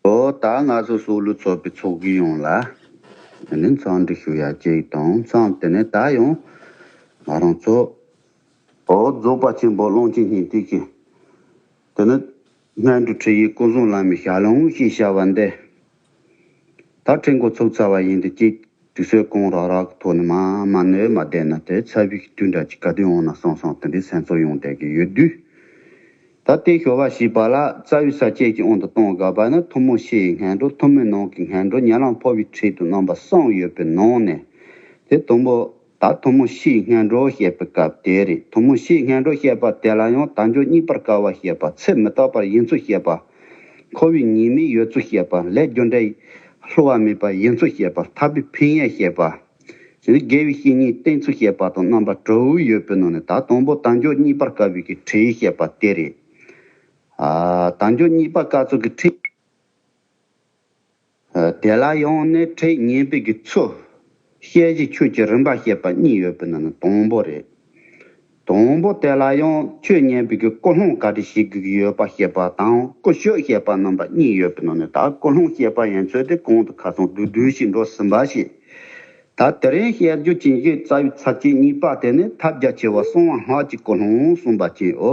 ལོ་ཟླ་ང་ཚོ་སུག་ལུ་ཚོགས་པའི་ཚོགས་ཀྱི་ཡོང་ལ་དེ་ནས་མཚང་འདྲི་ཞུ་ཡ་གཅིག་དང་མཚང་དེ་ནས་ད་ཡོང་ང་རང་ཚོ། ཨོ་རྫོགས་པ་ཆེན་པོ་ཀློང་ཆེན་སྙིང་ཏིག་གིས་དེ་ནས། སྔོན་དུ་ཁྲིད་ཡིག་སྐུ་གསུང་ལམ་མི་བཞག་ལུང་ཞེས་བྱ་བ་འདི། ད་ཁྲིད་འགོ་ཚུགས་ཚར་བ་ཡིན་དུ་གཅིག་དུས་ཚོད་གང་རག་རག་ཐོག་ནས་མ་མ་ནོས་མ་བསྡད་ན་དེ་ཚ་བིག་ཏུ་འདྲ་གཅིག་ག་དུས་འོང་ན་སོང་སོང་དེ་འདྲའི་སེམས་ཚོར་ཡོང་བསྡད་ཀྱི་ཡོད་དུས། ད་ལྟའི་ཞོ་བ་ཞེས་པ་ལ་རྩ་བའི་ས་བཅད་ཀྱི་དབང་དུ་གཏོང་དགའ་བ་ནི་ཐུ་མོ་ཤེ་ཡི་ངན་འགྲོ་ཐུ་མོའི་ནང་གི་ངན་འགྲོ་ཉལ་ལང་ཕོ་བའི་ཁྲིད་དུ་རྣམ་པ་གསུམ་ཡོད་པའི་ནང་ནས་དེ་དང་པོ་ད་ཐུ་མོ་ཤི་སྔན་འགྲོ་བཤད་པའི་སྐབས་དེ་རེད་ཐུ་མོ་ཤི་སྔན་འགྲོ་བཤད་པ་དེ་ལ་ཡང་དལ་འབྱོར་རྙིང་པར་དཀའ་བ་བཤད་པ་ཚེ་མི་རྟག་པར་ཡིན་ཚུལ་བཤད་པ། ཁོ་བོའི་ཉེས་མིག་ཡོད་ཚུལ་བཤད་པ་ལས་རྒྱུ་འབྲས་ལྷུ་བ་མེད་པ་ཡིན་ཚུལ་བཤད་པ་ཐར་པའི་ཕན་ཡོན་བཤད་པ། གཞན་དགེ་བའི་བཤེས་གཉེན་བསྟེན་ཚུལ་བཤད་པ་དང་རྣམ་པ་དྲུག་ཡོད་པའི་ནང་ནས་ད་དང་པོ་དལ་འབྱོར་རྙིང་པར་དཀའ་བའི་ཁྲིད་ཡིག་བཤད་པ་དེ་རེད། དལ་འབྱོར་རྙིང་པར་དཀའ་ཚུལ་གྱི་ཁྲིད། དེ་ལ་ཡང་ནི་ཁྲིད་ཉན་དཔེ་ཀྱི་ཚུལ། ཤེས་བྱེད་ཆོས་ཀྱི་རིམ་པ་ཤེས་པ་གཉིས་ཡོད་པའི་ནང་ན་དང་པོ་རེད། དང་པོ་དེ་ལ་ཡང་ཆོས་ཉན་དཔེ་ཀྱི་ཀུན་སློང་ག་དུ་ཞིག་གིས་ཡོད་པ་ཤེས་པ་དང་ཀུན་སྤྱོད་ཤེས་པ་རྣམ་པ་གཉིས་ཡོད་པའི་ནང་ནས་ད་ཀུན་སློང་ཤེས་པ་ཡན་ཚོད་དེ་གོང་དུ་ཁ་ཚོན་དུ་སྦྲུལ་ཞིག་འགྲོ་ཟིན་པ་ཞིག། ད་དེ་རིང་བཤད་རྒྱུ་བྱིན་གྱིས་རྩ་བའི་ཚབ་བྱེད་གཉིས་པ་དེ་ནི་ཐབས་རྒྱ་ཆེ་བ་གསང་བ་སྔགས་ཀྱི་ཀུན་སློང་གསུངས་པ་བཅས་འོ།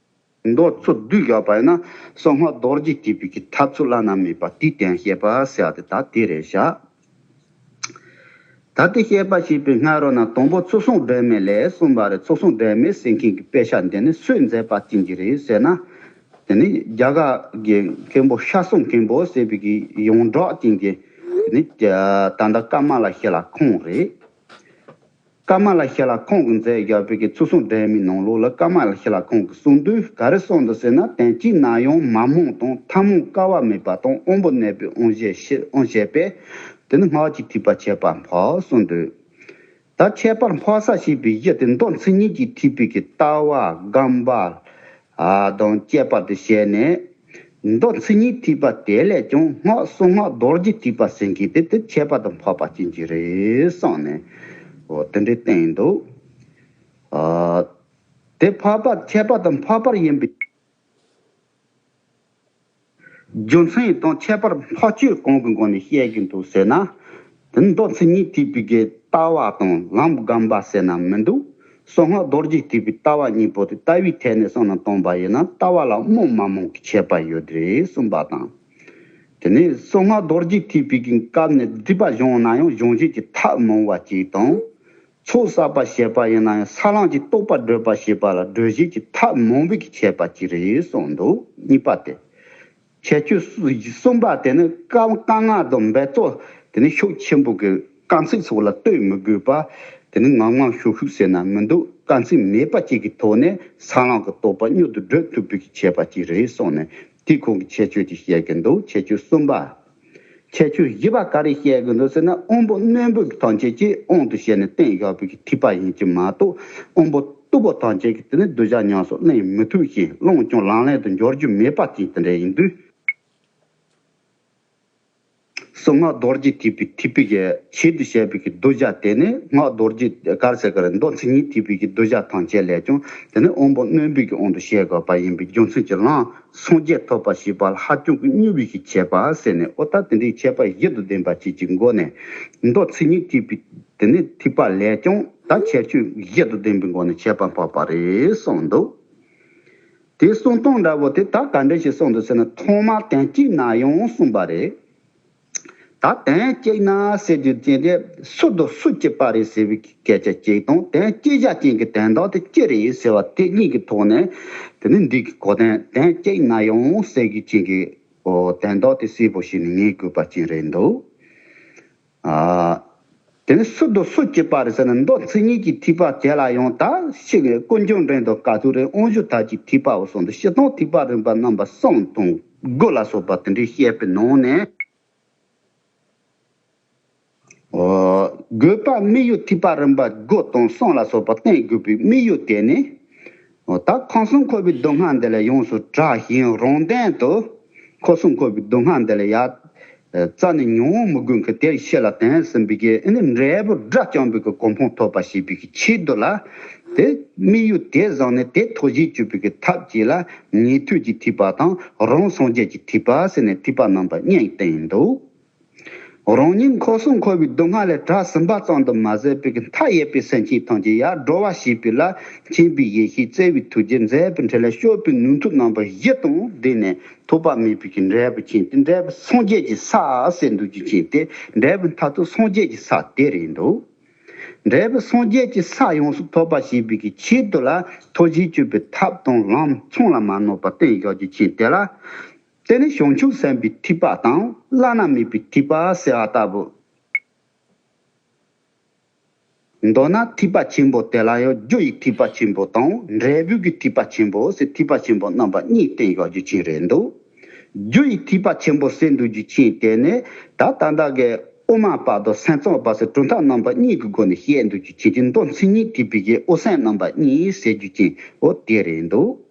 མདོ་ཚུལ་བསྡུས་ཀྱི་བར་ན་སོགས་སྔགས་རྡོ་རྗེ་སྐྱེད་པའི་གྱི་ཐབས་ཚུལ་བླ་ན་མེད་པ་དུས་གཏན་བཤད་པར་བྱ་སྟེ་ད་དེ་རེ་བྱ། ད་ལྟའི་བཤད་པ་ཞེས་པའི་སྔ་རོལ་ན་དང་པོ་ཚུལ་བཟང་དྲན་མེད་ལས་གསུངས་པ་རེ་ཚུལ་བཟང་དྲན་མེད་ཟེར་མཁན་གྱི་དཔེ་ཆ་འདི་ནི་སུས་མཛད་པ་བྱིན་གྱིས་རེད་ཟེར་ན། དེ་ནི་རྒྱ་གར་གྱི་མཁན་པོ་ཤྲཱི་སུང་མཁན་པོ་ཟེར་བའི་གྱི་ཡོངས་གྲགས་ཅན་གྱི་དེ་ནི་དད་ཟླ་ཀརྨ་ལ་ཤེས་ལ་ཁོང་རེད། ཀ་མ་ལ་ཤཱི་ལ་ཁོང་གི་མཛད་རྒྱ་བོད་ཀྱི་ཚུལ་སྲུང་འདྲེན་མི་ནང་ལུགས་ལ་ཀ་མ་ལ་ཤཱི་ལ་ཁོང་གི་གསུང་དུས་ག་རེ་གསུང་འདུག་ཟེར་ན་དོན་གཅིག་ན་ཡང་མ་རྨོངས་དང་མཐའ་རྨོངས་དཀའ་བ་མེད་པ་དང་དབང་པོ་གནས་པའི་དབང་བཞི་ཕྱིར་དབང་བྱས་པས་དེ་ནི་སྔགས་ཀྱི་ཐིགས་པ་ཁྱད་པར་འཕགས་གསུང་འདུག། ད་ཁྱད་པར་འཕགས་ས་ཞེས་པའི་གཞི་དེ་མདོ་མཚན་ཉིད་ཀྱི་ཐིགས་པའི་གི་ལྟ་བ་སྒམ་པ་དང་བཅས་པར་དུ་བྱས་ནས། མདོ་ཚིག་གཉིས་ཐིགས་པ་དེ་ལས་ཀྱང་སྔགས་གསུང་སྔགས་རྡོ་རྗེ་ཐིགས་པ་ཟིན་གྱིས་དེ་དེ་ཁྱད་པར་དུ་འཕགས་པ་བྱིན་གྱིས་རེ་གསང་ནས། དེ་འདྲའི་རྟེན་ཡིན་འདུག། དེ་འཕགས་པ་ཁྱད་པར་དུ་འཕགས་པར་ཡིན་པས། རྒྱུ་མཚན་ཡིན་སྟངས་ཁྱད་པར་འཕགས་ཆོས་གང་གི་སྒོ་ནས་བཤད་ཀྱི་འདུག་ཟེར་ན། དེ་ནི་མདོ་ཚིག་གཉིས་ཐིག་པའི་ལྟ་བ་དང་ལམ་སྒམ་པ་ཟེར་ན་མི་འདུག་སོ་སྔགས་རྡོ་རྗེ་ཐིག་པའི་ལྟ་བ་གཉིས་པོ་དེ་ལྟ་བུའི་ཐད་ནས་སོང་ན་སྟོང་པ་ཡིན་ན་ལྟ་བ་ལ་རྨོངས་མ་རྨོངས་ཀྱི་ཁྱད་པར་ཡོད་རེད་གསུངས་པ་དང། དེ་ནས་སོ་སྔགས་རྡོ་རྗེ་ཐིག་པའི་གི་སྐབས་ནས་སྒྲིབ་པ་གཞོང་ན་ཡང་གཞོང་བཞིན་གྱི་ཐབས་མང་བ་གཅིག་དང། ཚོགས་བསགས་པ་ཞེས་པ་ཡིན་ན་ཡང་ས་བླངས་ཀྱི་རྟོག་པ་བགྲོད་པ་ཞེས་པ་ལ་བགྲོད་བྱེད་ཀྱི་ཐ་མོང་བུ་གིས་བྱས་པ་གཅིག་རེད་གསུངས་འདུག་གཉིས་པ་སྟེ། ཁྱད་ཆོས་གསུམ་པ་དེ་ནི་བཀའ་མངགས་དང་འབད་རྩོལ་དེ་ནི་ཤུགས་ཆེན་པོ་གིས་དཀའ་ཚེགས་ཚོགས་ལ་ལྟོས་མི་དགོས་པ་དེ་ནི་ངང་ངང་ཤུགས་ཤུགས་ཟེར་ན་མི་འདུག་དཀའ་ཚེགས་མེད་པ་གཅིག་གི་ཐོག་ནས་ས་བླངས་ཀྱི་རྟོག་པ་སྙོད་དུ་བགྲོད་ཐུབ་བུ་གིས་བྱས་པ་གཅིག་རེད་གསུངས་ནས་དེའི་ཁོང་གི་ཁྱད་ཆོས་དེ་བཤད་ཀྱི་འདུག་ཁྱད་ཆོས་གསུམ་པ། ཁྱད་ཆོས་བཞི་པ་ག་རེ་བཤད་གི་འདུག་ཟེར་ན་དབོན་པོ་རྣོན་པོས་ཐང་ཆད་ཀྱིས་དབང་དུ་བྱས་ནས་བསྟན་བཞག་པའི་ཐིགས་པ་ཡིན་གྱི་མ་གཏོགས་དབོན་པོ་སྟུག་པོ་ཐང་ཆད་ཀྱིས་དེ་ནས་བསྡུ་བྱ་ཉམས་སུ་གླེང་མི་ཐུབ་ཞིང་བླངས་ཀྱང་ལང་ལེན་དུ་འཇོག་རྒྱུ་མེད་པ་བཅས་དེ་འདྲ་ཡིན་དུས། སོ་སྔགས་རྡོ་རྗེ་ཐིགས་པའི་ཐིགས་པའི་ཆེད་དུ་བཤད་པའི་བསྡུ་བྱ་དེ་ནི་སྔགས་རྡོ་རྗེ་གར་སེར་གར་མདོ་མཚན་ཉིད་ཐིགས་པའི་བསྡུ་བྱ་ཐང་ཆད་ལས་ཀྱང་དེ་ནི་དབོན་པོ་རྣོན་པོས་ཀྱི་དབང་དུ་བྱས་དགོས་པ་ཡིན་པའི་རྒྱུ་མཚན་གྱིས་བླངས། སངས་རྒྱས་ཐོབ་པ་ཞེས་པ་ལྷ་ཁྱོད་ཀྱི་སྙུན་བུས་ཤིག་བྱས་པ་ཟེར་ནས་ཨོ་ད་དེ་འདྲའི་ཆད་པ་བཞི་དང་ལྡན་པ་བྱེད་ཀྱི་མགོ་ནས་མདོ་ཚིག་གཉིས་ཐིག་པའི་དེ་ནས་ཐིག་པ་ལས་ཀྱང་ད་ཁྱད་ཆོས་བཞི་དང་ལྡན་པའི་མགོ་ནས་ཆད་པ་འཕགས་པ་རེད་གསུངས་འདུག་དེ་གསུང་སྟངས་འདྲ་བོ་དེ་ད་ག་འདྲ་ཞིག་གསུངས་འདུག་ཟེར་ན་ཐོག་མར་དན་གཅིག་ན་ཡང་གསུངས་པ་རེད། ད་དོན་གཅིག་ན་སེ་རྒྱུ་ཅན་དེ་སུ་དང་སུ་སྐྱེས་པ་རེད་ཟེར་བའི་སྐད་ཆ་གཅིག་དང་དོན་སྐྱེས་བཞག་ཅན་གྱི་དོན་དག་དེ་ཅི་རེད་ཟེར་བ་དེ་གཉིས་ཀྱི་ཐོག་ནས་དེ་ནི་འགྲིག་གི་གོ་དོན་དོན་གཅིག་ན་ཡང་སེ་རྒྱུ་ཅན་གྱི་དོན་དག་དེ་སིལ་བུ་ཞིག་ནི་ངའི་གུས་པ་ཅན་རེད་འདུག་ཨ། དེ་ནས་སུ་དོ་སུ་སྐྱེས་པ་རེད་ཟེར་ན་མདོ་ཚིག་གཉིས་ཀྱི་ཐིགས་པ་དེ་ལ་ཡང་དག་ཤེས་ངེས་དཀོན་མཆོག་འདྲེན་དང་དཀའ་ཐུབ་རེ་དབང་ཞུ་ཐབས་ཀྱི་ཐིགས་པའོ་གསུངས་འདུག་བཤད་སྟངས་ཐིགས་པ་རིམ་པ་རྣམ་པ་གསུམ་དང་དགུ་ལ་སོགས་པ་དེ་འདྲའི་བཤད་པའི་ནང་ནས། དགོས་པ་དམིགས་ཡུལ་ཐིགས་པ་རིམ་པ་དགུ་དང་གསུམ་ལ་སོགས་པ་བསྟན་དགོས་པའི་དམིགས་ཡུལ་དེ་ནི། ད་ཁང་གསུམ་ཁོ་བོའི་སྡུག་བསྔལ་འདི་ལས་ཡོངས་སུ་དྲག་ཞིང་རུང་ལྡན་དུ། ཁོ་གསུམ་ཁོ་བོའི་སྡུག་བསྔལ་འདི་ལས་ཡ། རྩ་ནས་མྱོང་བ་མི་དགོས་མཁན་དེར་ཤེས་ལ་དེང་སེམས་བི་གའི་ཨིནྡྲ་འབྲས་བུ་སྒྲ་སྤྱང་བི་གའི་གོ་འཕང་ཐོབ་པ་ཞེས་བི་གའི་ཆེད་དུ་ལ། དེ་དམིགས་ཡུལ་དེ་བཟང་ནས་དེ་ཐོག་གཞིས་བཅུ་བི་གའི་ཐབས་ཀྱིས་ལ་ཉེ་དུས་ཀྱི་ཐིགས་པ་དང་རང་སངས་རྒྱས་ཀྱི་ཐིགས་པ་ཟེར་ནས་ཐིགས་པ་རྣམས་པ་སྙེད་བསྟན་འདུག། རང་ཉིད་འཁོར་སྲུང་འཁོར་བའི་སྡུག་བསྔལ་ལས་གྲགས་ཟིན་པ་ཙམ་དུ་མ་ཟད་པའི་མཐའ་ཡས་པའི་སེམས་ཅན་ཐམས་ཅད་ཡར་འགྲོ་བ་ཞེས་པའི་ལ་མཁྱེན་པའི་ཡེ་ཤེས་བརྩེ་བའི་ཐུགས་རྗེས་མཛད་པའི་འཕྲིན་ལས་ཤོར་པའི་ནུས་མཐུ་རྣམ་པ་བཞི་དང་ལྡན་ནས་ཐོགས་པ་མེད་པའི་ཀྱི་འབྲས་བུ་བྱིན་ཏེ་འབྲས་བུ་སངས་རྒྱས་ཀྱི་ས་སེ་འདུ་བྱེད་བྱིན་ཏེ་འབྲས་བུའི་མཐའ་ཐུག་སངས་རྒྱས་ཀྱི་ས་དེར་ཡིན་ནོ། འབྲས་བུ་སངས་རྒྱས་ཀྱི་ས་ཡོངས་སུ་ཐོབ་པ་ཞེས་པའི་ཀྱི་ཆེད་དུ་ལ་ཐོགས་བཞིའི་སྤྱོད་པའི་ཐབས་དང་ལམ་མཚུངས་ལ་མ་ནོར་བར་བརྟན་བཞག་རྒྱུ་བྱིན་ཏེ་ལ། དེ་ནི་བྱང་ཆུབ་སེམས་དཔའི་ཐིགས་པ་དང་བླ་ན་མེད་པའི་ཐིགས་པ་ཟེར་བ་ལྟ་བུ། མདོར་ན་ཐིགས་པ་ཆེན་པོ་དེ་ལ་ཡང་རྒྱུ་ཡི་ཐིགས་པ་ཆེན་པོ་དང་འབྲས་བུ་གི་ཐིགས་པ་ཆེན་པོ་ཟེར་ཐིགས་པ་ཆེན་པོ་རྣམ་པ་གཉིས་བསྟན་ཡོད་རྒྱུ་མཁྱེན་རེད་འདུག་རྒྱུ་ཡི་ཐིགས་པ་ཆེན་པོ་ཟེར་འདུག་རྒྱུ་མཁྱེན་དེ་ནི་ད་ད་ལྟ་གི་དབུ་མ་པ་དང་སེམས་གཙང་པ་ཟེར་གྲུབ་མཐའ་རྣམ་པ་གཉིས་ཀྱི་སྒོ་ནས་བཤད་འདུག་རྒྱུ་མཁྱེན་གྱི་མདོ་མཚན་ཉིད་ཀྱི་བི་གའི་དབུ་སེམས་རྣམ་པ་གཉིས་ཟེར་རྒྱུ་མཁྱེན་འོ་དེ་རེད་འདུག།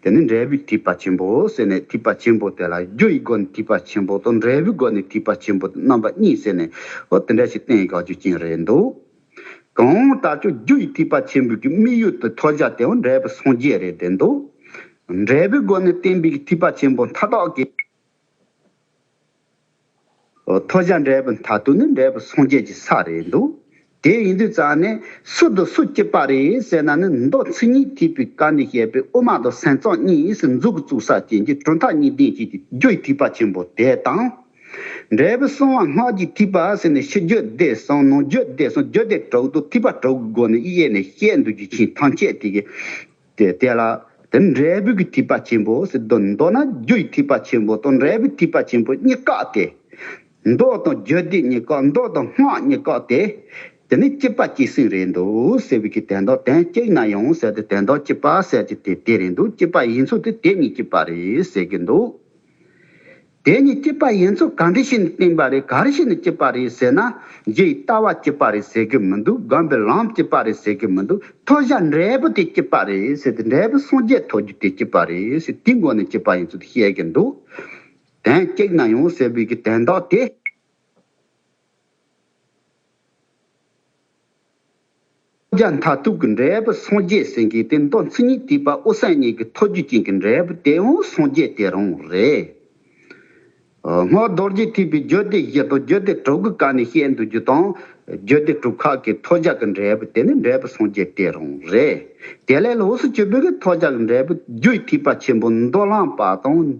དེ་ནི་འབྲས་བུའི་ཐིགས་པ་ཆེན་པོའོ་ཟེར་ནས་ཐིགས་པ་ཆེན་པོ་དེ་ལ་རྒྱུ་ཡི་སྒོ་ནས་ཐིགས་པ་ཆེན་པོ་དང་འབྲས་བུའི་སྒོ་ནས་ཐིགས་པ་ཆེན་པོ་དེ་རྣམ་པ་གཉིས་ཟེར་ནས་ཨོ་དེ་འདྲ་ཞིག་བསྟན་ཡོད་ཁ་རྒྱུ་རྐྱེན་རེད་འདུག་གང་ལྟར་ཆོས་རྒྱུ་ཡི་ཐིགས་པ་ཆེན་པོའི་གི་དམིགས་ཡུལ་དུ་མཐོ་བཞག་དེའང་འབྲས་བུ་སངས་རྒྱས་རེད་བསྡད་འདུག་འབྲས་བུའི་སྒོ་ནས་བསྟན་པའི་གི་ཐིགས་པ་ཆེན་པོ་མཐའ་དག་གི། ཐོ་བྱ་འདྲེས་པ་ད་དུ་ནི་འདྲེས་པ་སངས་རྒྱས་ཀྱི་ས་རེད་འདུག་དེ་ཡིན་དུས་རྩ་ནས་སུ་འདུག་སུ་སྐྱིད་པ་རེད་ཟེར་ན་ནི་མདོ་ཚིག་གཉིས་ཐིག་པའི་བཀའ་ནས་བཤད་པའི་དབུ་མ་དང་སེམས་གཙང་གཉིས་སུ་འཛུག་གི་བཙུག་ས་ཅན་གྱི་གྲུབ་མཐའ་གཉིས་ལྡན་བྱེད་ཀྱི་རྒྱུ་ཡི་ཐིག་པ་ཆེན་པོ་དེ་དང། འདྲེས་པ་སྲུང་བ་སྔགས་ཀྱི་ཐིག་པ་ཟེར་ནས་ཕྱི་རྒྱུད་བདེ་སྲུང་ནང་རྒྱུད་བདེ་སྲུང་རྒྱུད་སྡེ་དྲུག་ཏུ་ཐིག་པ་དྲུག་གི་སྒོ་ནས་དབྱེ་ནས་བཤད་འདུག་རྒྱུ་མཁྱེན་ཐམས་ཅད་དེ་གའི་དེ་དེ་ལ་དེ་འབྲས་བུ་ཀྱི་ཐིགས་པ་ཆེན་པོ་ཟེར་དོ། མདོར་ན་རྒྱུ་ཡི་ཐིགས་པ་ཆེན་པོ་དང་འབྲས་བུའི་ཐིགས་པ་ཆེན་པོ་གཉིས་བཀག་སྟེ། མདོག་དང་རྒྱུ་དེ་གཉིས་བཀག་མདོག་དང་སྔགས་གཉིས་བཀག་སྟེ། དེ་ནི་སྐྱེས་པ་སྐྱེས་ཟིན་རེད་འདུག་ཟེར་བའི་གི་དན་རྡོ་དན་སྐྱེས་ན་ཡང་ཟེར་ཏེ་དན་རྡོ་སྐྱེས་པ་ཟེར་གྱི་དེ་དེ་རེད་འདུག་སྐྱེས་པ་ཡིན་ཚུལ་དེ་དེ་གཉིས་སྐྱེས་པ་རེད་ཟེར་གྱི་འདུག། དེ་ནི་སྐྱིད་པ་ཡིན་ཚུལ་ག་འདྲི་ཞིག་ནས་བསྟན་པ་རེད་ག་རེ་ཞིག་ནས་སྐྱིད་པ་རེད་ཟེར་ན། རྗེ་ཡི་ལྟ་བ་སྐྱིད་པ་རེད་ཟེར་གི་མི་འདུག་སྒམ་པོའི་ལམ་སྐྱིད་པ་རེད་ཟེར་གི་མི་འདུག་མཐོ་བཞག་འབྲས་བུ་དེ་སྐྱིད་པ་རེད་ཟེར་ཏེ་འབྲས་བུ་སངས་རྒྱས་ཐོབ་རྒྱུ་དེ་སྐྱིད་པ་རེད་ཟེར་དེའི་མགོ་ནས་སྐྱིད་པ་ཡིན་ཚུལ་དེ་བཤད་གི་འདུག་དན་སྐྱིད་ན་ཡོང་ཟེར་བའི་གི་དན་རྟགས་དེ། ལྕགས་མཐའ་གཏུགས་ཀྱི་འབྲས་བུ་སངས་རྒྱས་སེང་གེའི་སྟེ་མདོ་མཚན་ཉིད་བསྡུས་པ་ཨོ་གསལ་སྙིང་གི་ཐོ་རྒྱུད་ཅན་གྱི་འབྲས་བུ་དེ་འོང་སངས་རྒྱས་དེ་རང་རེད། སྔགས་རྡོ་རྗེ་ཐེག་པའི་རྒྱུད་སྡེ་བཞི་དང་རྒྱུད་སྡེ་དྲུག་གི་བཀའ་ནས་བཤད་འདུག་རྒྱུ་དང། རྒྱུད་སྡེ་དྲུག་ཁག་གི་ཐོ་ལྕགས་ཀྱི་འབྲས་བུ་དེ་ནི་འབྲས་བུ་སངས་རྒྱས་དེ་རང་རེད། དེ་ལས་ལོགས་སུ་བཅུ་པོད་ཀྱི་ཐོ་ལྕགས་ཀྱི་འབྲས་བུ་རྒྱུད་ཐེག་པ་ཆེན་པོ་མདོ་བླངས་པ་དང།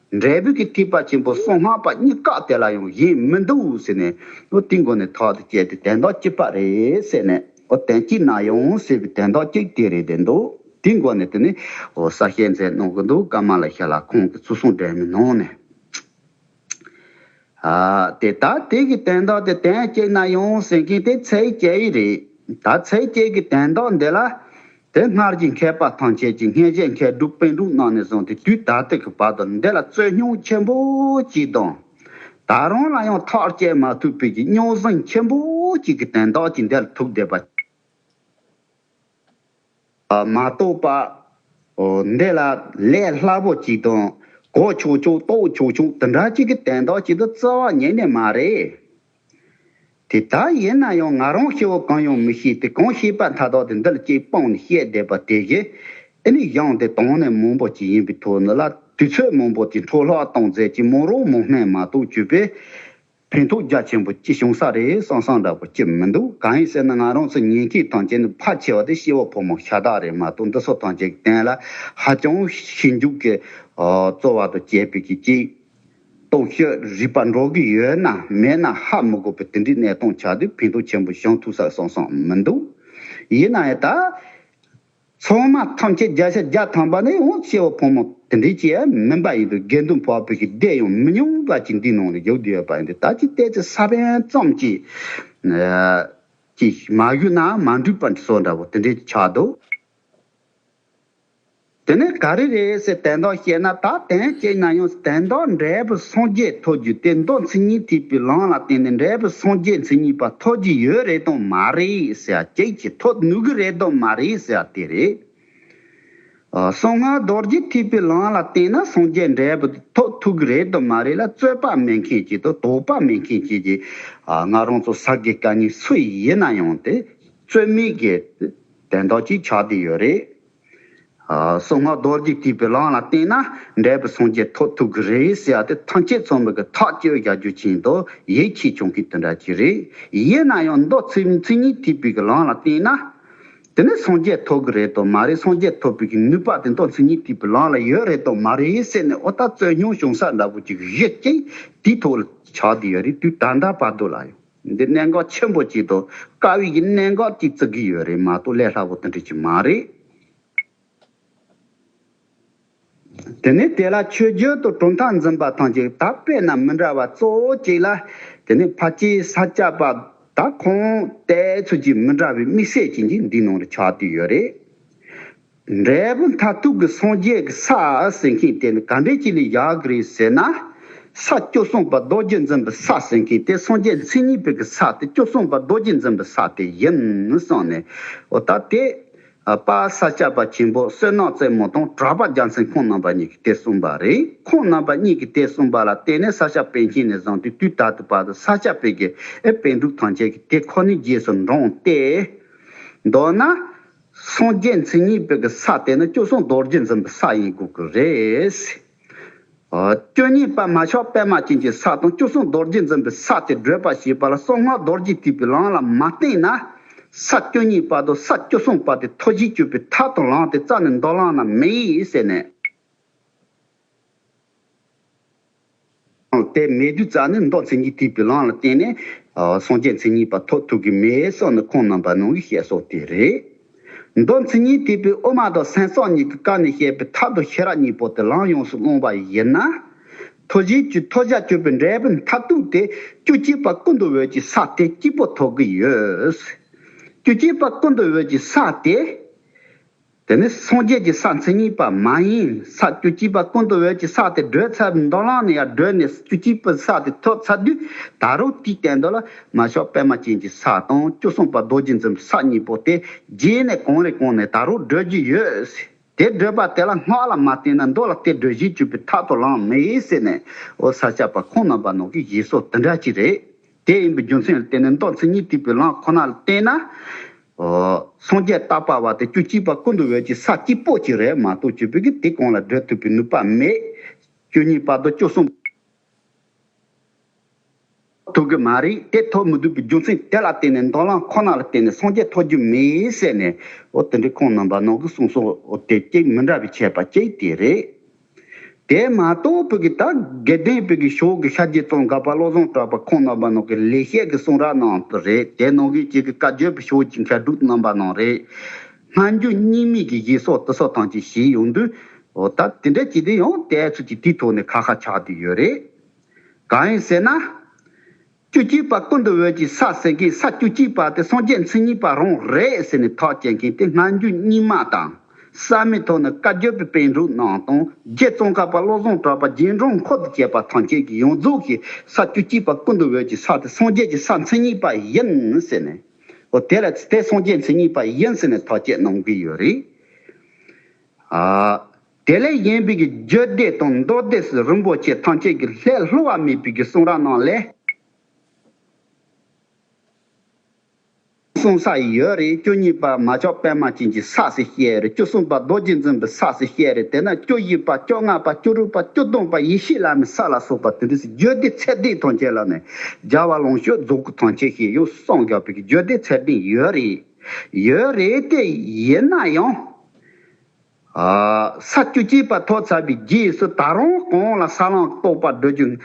འབྲས་བུ་གྱི་ཐིགས་པ་ཆེན་པོ་སོ་ལྔ་པ་གཉིས་བཀག་དེ་ལ་ཡང་ཡིན་མི་འདུག་ཟེར་ནས་ཨོ་ཏི་མགོ་ནས་ཐག་ཏུ་བཅད་དེ་དན་ཐག་གཅིག་པ་རེད་ཟེར་ནས་ཨོ་དན་གཅིག་ན་ཡང་ཟེར་བའི་དན་ཐག་གཅིག་དེ་རེད་བསྡད་འདུག་དེའི་མགོ་ནས་དེ་ནས་ཨོ་གསར་བཤད་མཛད་གནང་གི་འདུག་སྐར་མ་ལ་ཤར་ལ་ཁོང་གི་ཚུར་སོང་འགྲན་མི་གནང་ནས། དེ་དག་དུས་ཀྱི་དོན་ལྡོག་སྟེ་དོན་གཅིག་ན་ཡོང་ཟིན་གྱི་དེ་ཚེ་སྐྱེ་བའི་རིགས། ད་ཚེ་སྐྱེ་གི་དོན་ལྡོག་འདི་ལ། དེ་སྔར་གྱི་མཁས་པ་ཐམས་ཅད་ཀྱིས་མཁས་བྱེད་མཁས་གྲུབ་དཔོན་གྲུབ་རྣམས་ནས་བཟུང་སྟེ་དུས་ད་ལྟ་གི་བར་དུ་འདི་ལ་རྩོད་རྙོག་ཆེན་པོ་གཅིག་དང། ད་རུང་ལ་ཡང་ཐག་བཅད་མ་ཐུབ་པའི་རྙོག་ཟིང་ཆེན་པོ་གཅིག་གི་དོན་ལྡོག་ཅིག་འདི་ལ་ཐུག་བསྡད་པ། མ་གཏོགས་པ། འདི་ལ་ལས་སླ་པོ་ཅིག་དང། གོ་ཆོག་ཆོག་རྟོགས་ཆོག་ཆོག་འདི་འདྲ་ཅིག་གི་དན་རྟགས་ཅིག་ཏུ་རྩ་བ་ཉིད་ནས་མ་རེད། དེ་ལྟ་ཡིན་ན་ཡང་ང་རང་སྐྱེ་བོ་གང་ཡང་མི་ཤེས་ཏེ་གང་ཤེས་པ་མཐའ་དག་དེ་འདི་ལ་གཅིག་སྤངས་ནས་བཤད་བསྡད་པ་དེ་བཞིན་ཨེ་ནི་གཞང་དེ་དྭངས་ནས་མང་པོ་ཅིག་ཡིན་པའི་དོན་ལ་དུས་ཚོད་མང་པོ་ཅིག་འཕྲོ་བརླག་གཏོང་མཛད་ཅིག་མོ་རང་མོ་སྨན་མ་གཏོགས་བཅོས་པས་ཕན་ཐོགས་རྒྱ་ཆེན་པོ་ཅི་བྱུང་ས་རེད་སང་སང་འདྲ་པོ་ཅི་མི་འདུག་གང་ཡིན་ཟེར་ན་ང་རང་ཚོ་ཉན་མཁན་ཐང་ཅན་ནི་ཕར་ཆེ་བ་དེ་ཤེས་བ་ཕོ་མོ་ཤ་སྟག་རེད་མ་གཏོགས་འདི་ཚོ་ཐང་ཅན་གྱི་གཏན་ལ་ཧ་ཅང་ཞིབ་འཇུག་གིས་རྩོལ་བ་དང་དཔྱད་དཔེ་ཀྱིས་ཅིག་སྟོང་ཤོད་རིགས་པ་འགྲོ་གི་ཡོད་ན་མེད་ན་ཧ་མི་གོ་བའི་དེ་འདྲའི་གནས་སྟངས་ཆགས་དུས་ཕན་ཐོགས་ཆེན་པོ་བྱང་ཐུབ་ས་སང་སང་མི་འདུག་ཡིན་ན་ཡང་ད། ཚང་མ་ཐམས་ཅད་བརྒྱ་ཆ་བརྒྱ་ཐམ་པ་ནི་ཡང་སྐྱེ་བོ་ཕོ་མོ་དེ་འདྲའི་སྐྱེ་བ་མིན་པ་ཡིན་དུས་དགེ་འདུན་བ་བོད་ཀྱི་སྡེ་ཡང་མི་ཉུང་བ་ཅིག་འདིའི་ནང་ལ་ཡོད་དགོས་པ་ཡིན་དུས་ད་ཅི་ལྟའི་ཚེ་ས་བོན་ཙམ་གྱིས་ཀྱིས་མ་གཞུག་ན་མ་འགྲིག་པ་སོགས་འདྲ་བོ་དེ་འདྲའི་ཆགས་འདུག་དེ་ནས་ག་རེ་རེད་ཟེར་དན་ཏོག་བཤད་ན་ད་དན་གཅིག་ན་ཡང་དན་ཏོག་འབྲས་བུ་སངས་རྒྱས་ཐོབ་རྒྱུ་དེ་མདོ་མཚན་ཉིད་ཐིགས་པའི་ལམ་ལ་བརྟེན་ནས་འབྲས་བུ་སངས་རྒྱས་མཚན་ཉིད་པ་ཐོབ་ཀྱི་ཡོད་རེད་དང་མ་རེད། ཟེར་ཡ་ཁྱེད་ཀྱིས་ཐོབ་ནུས་ཀྱི་རེད་དམ་མ་རེད་ཟེར་ཡ་དེ་རེད། གསང་སྔགས་རྡོ་རྗེ་ཐེག་པའི་ལམ་ལ་བརྟེན་ན་སངས་རྒྱས་འབྲས་བུ་དེ་ཐོབ་ཐུབ་ཀྱི་རེད་དམ་མ་རེད་ལ་རྩོད་པ་མེད་མཁན་གྱིས་དང་དོགས་པ་མེད་མཁན་གྱིས་ཀྱིས། ང་རང་ཚོ་ས་དགེ་བཀའ་རྙིང་སུ་ཡིན་ན་ཡང་དེ་རྩོད་མེད་ཀྱི་དེ་དེ་འདྲ་གཅིག་ཆགས་དེ་ཡོད་རེད། གསང་སྔགས་རྡོ་རྗེ་བརྟུལ་པའི་གླང་ལ་བརྟེན་ན་འབྲས་བུ་སངས་རྒྱས་ཐོབ་ཐུབ་གི་རེད་ཟེར་བ་དེ་ཐང་ཆད་ཚོགས་མི་གི་ཐག་གཅོད་བཞག་རྒྱུ་ཆེན་དོ་ཡེ་ཁྱེད་སྐྱོང་མཁན་དེ་འདྲ་ཅིག་རེད་ཡིན་ན་ཡང་མདོ་ཚིག་མཚན་ཉིད་ཐིག་པའི་གི་གླང་ལ་བརྟེན་ན། དེ་ནི་སངས་རྒྱས་ཐོབ་གི་རེད་དོ་མ་རེད་སངས་རྒྱས་ཐོབ་པའི་གི་ནུས་པ་དེ་མདོ་མཚན་ཉིད་ཐིག་པའི་གླང་ལ་ཡོད་རེད་དོ་མ་རེད་ཟེར་ནས་ཨོ་ད་རྩོད་རྙོག་བྱུང་ས་འདྲ་པོ་ཅིག་རེད་ཅིག་དེའི་ཐོག་ལ་ཆགས་དུས་ཡོད་རེད་དུས་ད་ལྟ་བར་དུ་ལ་ཡང། འདི་གནད་འགག་ཆེན་པོ་གཅིག་འདུག་དཀའ་དབྱིག་གི་གནད་འགག་གཅིག་བརྩི་གི་ཡོད་རེད་མ་གཏོགས་ལས་སླ་པོ་དེ་འགྲིག་གི་མ་རེད། དེ་ནས་དེ་ལ་ཆོས་བརྒྱུད་དུ་གྲུབ་མཐའ་འཛིན་པ་ཐམས་ཅད་དག་པའི་རྣམས་མི་འདྲ་བ་གཙོ་བོ་གཅིག་ལ། དེ་ནས་ཕ་སྐྱེས་ས་སྐྱ་པ་དག་ཁོངས་དད་ཚུལ་གྱིས་མི་འདྲ་བའི་དམིགས་བསལ་ཅན་གྱིས་འདིའི་ནང་དུ་ཆགས་དུས་ཡོད་རེད། འབྲས་བུ་མཐར་ཐུག་གི་སངས་རྒྱས་ཀྱི་ས་ཟེར་མཁན་དེ་ནི་ག་འདྲའི་ཅི་ལས་ཡག་གི་རེད་ཟེར་ན། ས་སྐྱོ་གསུངས་པ་རྡོ་རྗེ་འཛིན་པའི་ས་ཟེར་མཁན་དེ་སངས་རྒྱས་མཚན་ཉིད་ཕུལ་གྱི་ས་དེ་སྐྱོ་གསུངས་པ་རྡོ་རྗེ་འཛིན་པའི་ས་དེ་ཡིན་གསུངས་ནས། འོ་ད་དེ། པ་ས་སྐྱ་པ་ཆེན་པོ་བསོད་ནགས་རྩེ་མོ་དང་གྲགས་པ་རྒྱ་མཚན་ཁོང་རྣམ་པ་གཉིས་ཀྱིས་དེ་གསུངས་པ་རེད་ཁོང་རྣམ་པ་གཉིས་ཀྱིས་དེ་གསུངས་པ་ལ་བརྟེན་ནས་ས་སྐྱ་པས་མཁྱེན་ནས་བཟང་དུས་དུས་ད་ལྟའི་བར་དུ་ས་སྐྱ་པའི་དགེ་བས་དཔེ་འབྲུག་ཐང་ཆེན་གྱི་དེ་ཁོ་ནའི་རྗེས་སུ་འབྲངས་ཏེ། མདོར་ན། སངས་རྒྱས་མཚན་ཉིད་དཔེ་གི་ས་དེ་ནི་སྐྱོ་སུན་རྡོ་རྗེ་འཛིན་པའི་ས་ཡིན་དགོས་ཀྱི་རེད། སྐྱོ་ཉེས་པད་མ་ཤོག་པད་མ་ཅན་གྱི་ས་དང་སྐྱོ་སུན་རྡོ་རྗེ་འཛིན་པའི་ས་དེ་བགྲོད་པ་ཞེས་པ་ལ་སྲོག་སྔགས་རྡོ་རྗེ་ཐིག་པའི་ལམ་ལ་མ་བརྟེན་ན། ས་སྐྱོ་ཉེས་པ་དང་ས་སྐྱོ་སུན་པ་དེ་མཐོ་བཞིའི་སྐྱོ་པའི་མཐའ་དང་ལངས་ཏེ་རྩ་ནས་མདོ་བླངས་ན་མེད་ཟེར་ནས། དེ་མེའི་བདུད་རྩ་ནི་མདོག་མཚན་ཉིད་དུས་བི་ལང་ལ་བརྟེན་ནས། སངས་རྒྱས་མཚན་ཉིད་པ་ཐོག་ཐུག་གི་མེའི་སྲོག་ནི་ཁོང་རྣམ་པར་སྣང་གི་ཤས་སོགས་དེ་རེད། མདོག་མཚན་ཉིད་དུས་བི་ཨུ་མ་དང་སེང་སོགས་གཉིས་ཀྱི་བཀའ་ནས་བཤད་པའི་ཐབས་དང་ཤེས་རབ་གཉིས་པོ་དེ་ལམ་ཡོངས་སུ་བླངས་པ་ཡིན་ན། ཐོ་བཞིའི་ཆུ་ཐོ་བཞག་གཅོད་པའི་འབྲས་བུ་མཐར་ཐུག་དེ་བཅུ་གཅིག་པ་ཀུན་ཏུ་འོད་ཀྱི་ས་དེ་གཅིག་པོ་ཐོག་གི་ཡོད། བཅུ་གཅིག་པ་ཀུན་ཏུ་འོད་ཀྱི་ས་དེ། དེ་ནི་སངས་རྒྱས་ཀྱི་ས་མཚན་ཉིད་པ་མ་ཡིན་ས་བཅུ་གཅིག་པ་ཀུན་ཏུ་འོད་ཀྱི་ས་དེ་བགྲོད་ཚད་མདོ་ལང་ནས་ཡར་བགྲོད་ནས་བཅུ་གཅིག་པའི་ས་དེ་ཐོབ་ཚད་དུས་ད་རུང་གཅིག་བསྟན་འདོད་ལ་མ་ཞོག་པད་མ་ཅན་གྱི་ས་དང་བཅུ་གསུམ་པ་རྡོ་རྗེ་འཛིན་ས་གཉིས་པོ་དེ་རྗེས་ནས་གང་རེ་གང་ནས་ད་རུང་བགྲོད་ཀྱི་ཡོད། དེ་བགྲོད་པ་དེ་ལ་སྔགས་ལ་མ་བརྟེན་ན་མདོ་ལ་སྟེ་བགྲོད་བཞི་བཅུ་པའི་མཐའ་དུ་ལངས་མི་ཡེ་ཟེར་ནས་འོ་ས་ཆ་པ་ཁོང་རྣམ་པ་ནང་གི་བཞེད་སྲོལ་དེ་འདྲ་ཅིག་རེད། དེ་ཡིན་པའི་རྒྱུ་མཚན་ལ་བརྟེན་ནས་མདོ་མཚན་ཉིད་དེ་བུ་ལང་ཁོ་ན་ལ་བརྟེན་ན། སངས་རྒྱས་རྟག་པ་བ་དེ་བཅུ་གཅིག་པ་ཀུན་ཏུ་འོད་ཀྱི་ས་སྐྱིད་པོ་གཅིག་རེད་མ་གཏོགས་བཅུ་བུ་གིས་དེ་གང་ལ་བགྲོད་ཐུབ་པའི་ནུས་པ་མེད། བཅུ་གཉིས་པ་དང་བཅུ་གསུམ། ཐུབ་གི་མ་རེད་དེ་ཐོབ་མི་ཐུབ་པའི་རྒྱུ་མཚན་དེ་ལ་བརྟེན་ནས་མདོ་ལང་ཁོ་ན་ལ་བརྟེན་ནས་སངས་རྒྱས་ཐོབ་རྒྱུ་མེད་ཟེར་ནས་འོ་དེ་འདྲའི་ཁོང་རྣམས་པ་ནང་གི་གསུང་སོགས་དེ་གཅིག་མི་འདྲ་བའི་ཆད་པ་གཅིག་དེ་རེད། དེ་མ་གཏོགས་བོད་ཀྱི་དག་དགེ་ལྡན་བོད་ཀྱི་ཕྱོགས་ཀྱི་ཤ་རྒྱུད་ཙོང་དགའ་བ་བློ་བཟང་གྲགས་པ་ཁོང་རྣམ་པ་ནང་གི་ལས་བཤད་ཀྱི་གསུང་ར་ནང་དུ་རེད་དེ་ནང་གི་ཅིག་གི་བཀའ་བརྒྱུད་པའི་ཕྱོགས་ཀྱི་མཁས་གྲུབ་རྣམ་པ་ནང་རེད། སྔ་འགྱུར་རྙིང་མིག་གི་བཞི་སོགས་དུ་སོགས་ཐང་ཅིག་བཞི་ཡོང་དུས། ད་དེ་འདྲ་བྱས་དུས་ཡང་དེའི་ཚུལ་གྱིས་དེའི་ཐོག་ནས་ཁ་ཁ་ཆགས་དུས་ཡོད་རེད། གང་ཡིན་ཟེར་ན། བཅུ་གཅིག་པ་ཀུན་ཏུ་འོད་ཀྱི་ས་ཟེར་གི་ས་བཅུ་གཅིག་པ་དེ་སངས་རྒྱས་མཚན་ཉིད་པ་རང་རེད་ཟེར་ནས་ཐག་བཅད་མཁན་དེ་སྔ་འགྱུར་རྙིང་མ་དང། གསར་མའི་ཐོག་ན་བཀའ་བརྒྱུད་པའི་དཔེ་འབྲུ་རྣམས་དང་རྗེ་ཙོང་ཁ་པ་བློ་བཟང་གྲགས་པ་རྗེས་འབྲང་མཁོ་དུ་བྱས་པ་ཐམས་ཅད་ཀྱི་ཡོངས་རྫོགས་ཀྱི་ས་བཅུ་གཅིག་པ་ཀུན་ཏུ་འོད་ཀྱི་ས་དེ་སངས་རྒྱས་ཀྱི་ས་མཚན་ཉིད་པ་ཡིན་ཟེར་ནས། ཨོ་དེ་ལ་དེ་སངས་རྒྱས་མཚན་ཉིད་པ་ཡིན་ཟེར་ནས་ཐག་བཅད་གནང་གི་ཡོད་རེད། དེ་ལས་གཞན་བོད་ཀྱི་རྒྱུད་སྡེ་དང་མདོ་སྡེ་སུ་རིན་པོ་ཆེ་ཐམས་ཅད་ཀྱི་ལྷའི་ལྷུ་བ་མེད་པའི་རྒྱུད་གསུང་ར་རྣམས་ལས་གསུང་ས་ཡི་ཡོད་རེད་བཅུ་གཉིས་པ་མ་ཅོག་པད་མ་ཅན་གྱི་ས་སུ་བཤད་རེད་བཅུ་གསུམ་པ་རྡོ་རྗེ་འཛིན་པའི་ས་སུ་བཤད་རེད་དེ་ན་བཅུ་བཞི་པ་བཅོ་ལྔ་པ་བཅུ་དྲུག་པ་བཅུ་སྟོང་པ་ཡེ་ཤེས་བླ་མའི་ས་ལ་སོགས་པ་དེ་འདྲའི་རྒྱུད་སྡེ་ཚད་ལྡན་ཐམས་ཅད་ལ་ནི་སྦྱར་བ་ལོངས་སྤྱོད་རྫོགས་སྐུ་ཐམས་ཅད་ཞེས་ཡང་གསང་རྒྱ་བོད་ཀྱི་རྒྱུད་སྡེ་ཚད་ལྡན་ཡོད་རེད་ཡོད་རེད་དེ་ཡིན་ན་ཡང། ས་བཅུ་གཅིག་པ་ཐོག་ཚར་བའི་རྗེས་སུ་ད་རུང་གང་ལ་ས་བླངས་ཀྱི་རྟོག་པ་སྒྲོལ་རྒྱུ།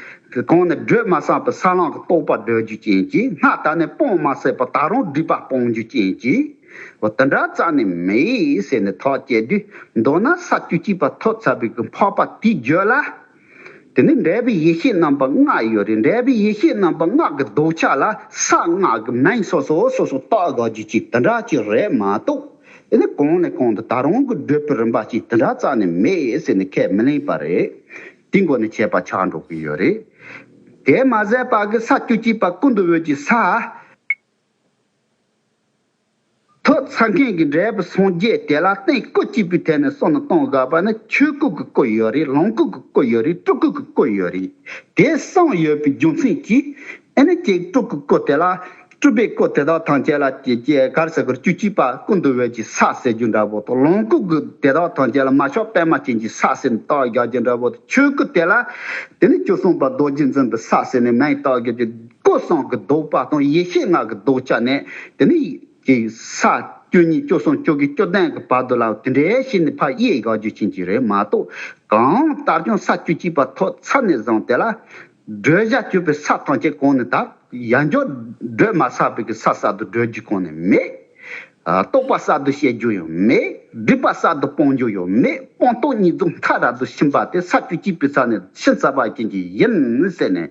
གང་ནས་སྒྲོལ་མ་བསམས་པའི་ས་བླངས་ཀྱི་རྟོག་པ་སྒྲོལ་རྒྱུ་ཅན་གྱིས་སྔ་ད་ནས་སྤོང་མ་ཟད་པ་ད་རུང་སྒྲིབ་པ་སྤོང་རྒྱུ་ཅན་གྱིས། འདི་འདྲ་རྩ་ནས་མེད་ཟེར་ནས་ཐག་བཅད་དུས་མདོར་ན་ས་བཅུ་གཅིག་པ་ཐོག་ཚར་བའི་གི་འཕགས་པ་དེའི་རྒྱུད་ལ། དེ་ནི་འབྲས་བུའི་ཡེ་ཤེས་རྣམ་པ་ལྔ་ཡོད་རེད་འབྲས་བུའི་ཡེ་ཤེས་རྣམ་པ་སྔགས་ཀྱི་ལྡོག་ཆ་ལ་ས་སྔགས་ཀྱི་མིང་སོ་སོ་སོ་སོ་བཏགས་དགག་རྒྱུ་གཅིག་དེ་འདྲ་གཅིག་རེད་མ་གཏོགས་དེ་ནི་གོང་ནས་གོང་དུ་ད་རུང་གི་བགྲོད་པའི་རིམ་པ་གཅིག་དེ་འདྲ་རྩ་ནས་མེད་ཟེར་ནས་ཁས་མི་ལེན་པ་རེད། དེའི་འགོ་ནས་བྱས་པ་ཆགས་འགྲོ་གི་ཡོད་རེད། དེ་མ་ཟད་པ་གི་ས་བཅུ་གཅིག་པ་ཀུན་ཏུ་འོད་ཀྱི་ས། ཐོག་ཚ་མཁན་གྱི་འབྲས་བུ་སངས་རྒྱས་དེ་ལ་སྟེང་སྐུ་སྐྱིད་པོའི་ཐད་ནས་སོ་ནི་སྟོང་བཟའ་བ་ནི་ཆོས་སྐུ་གི་སྐུ་ཡོད་རེད་ལོངས་སྐུ་གི་སྐུ་ཡོད་རེད་སྤྲུལ་སྐུ་གི་སྐུ་ཡོད་རེད་དེ་གསུམ་ཡོད་པའི་རྒྱུ་མཚན་གྱིས་ཨེ་ནི་ཀྱེ་སྤྲུལ་སྐུ་སྐུ་དེ་ལ་སྤྲུལ་པའི་སྐུ་དེ་དག་ཐམས་ཅད་ལ་ཀྱེ་ཀྱེ་གར་ཟེར་གུར་བཅུ་གཅིག་པ་ཀུན་ཏུ་འོད་ཀྱི་ས་ཟེར་རྒྱུ་འདྲ་བོ་དང་ལོངས་སྐུ་གི་དེ་དག་ཐམས་ཅད་ལ་མ་ཤོག་པད་མ་ཅན་གྱི་ས་ཟེར་ནས་རྟགས་བཞག་རྒྱུ་འདྲ་བོ་དང་ཆོས་སྐུ་དེ་ལ་དེ་ནི་བཅུ་གསུམ་པ་རྡོ་རྗེ་འཛིན་པའི་ས་ཟེར་ནས་མེད་རྟགས་བརྒྱབ་རྒྱུ། སྐུ་གསུང་གི་ཟློག་པ་དང་ཡེ་ཤེས་སྔགས་ཀྱི་ཟློག་བྱ་ནི། དེ་ནི། ཀྱི། ས། སྐྱོ་གཉིས་སྐྱོ་གསུམ་སྐྱོ་གི་སྐྱོ་ལྡན་གྱི་བར་དོ་ལའོ་དེ་འདྲའི་ཤེས་ནི་ཕ་གཡས་གཡོག་རྒྱུ་ཆེན་གྱི་རེད་མ་གཏོགས། གང་ལྟར་ཀྱང་ས་སྐྱོ་གཅིག་པ་ཐོག་ཚ་ནས་བཟང་དེ་ལ། སྒྲོལ་བྱ་སྐྱོ་པའི་ས་ཐམས་ཅད་གང་ནས་དག། ཡ་འཇོག། སྒྲོལ་མ་བསགས་པའི་གི་ས་བསགས་དུ་སྒྲོལ་རྒྱུ་གང་ནས་མེད། རྟོགས་པ་བསགས་དུ་བཤད་རྒྱུ་ཡང་མེད། སྒྲིབ་པ་བསགས་དུ་སྤང་རྒྱུ་ཡང་མེད་སྤང་རྟོགས་གཉིས་རྫོགས་མཐའ་རབ་ཏུ་ཕྱིན་པ་དེ་ས་སྐྱོ་གཅིག་པའི་ས་ནས་ཕྱིན་ཚར་བ་རྐྱེན་གྱིས་ཡིན། ཟེར་ནས།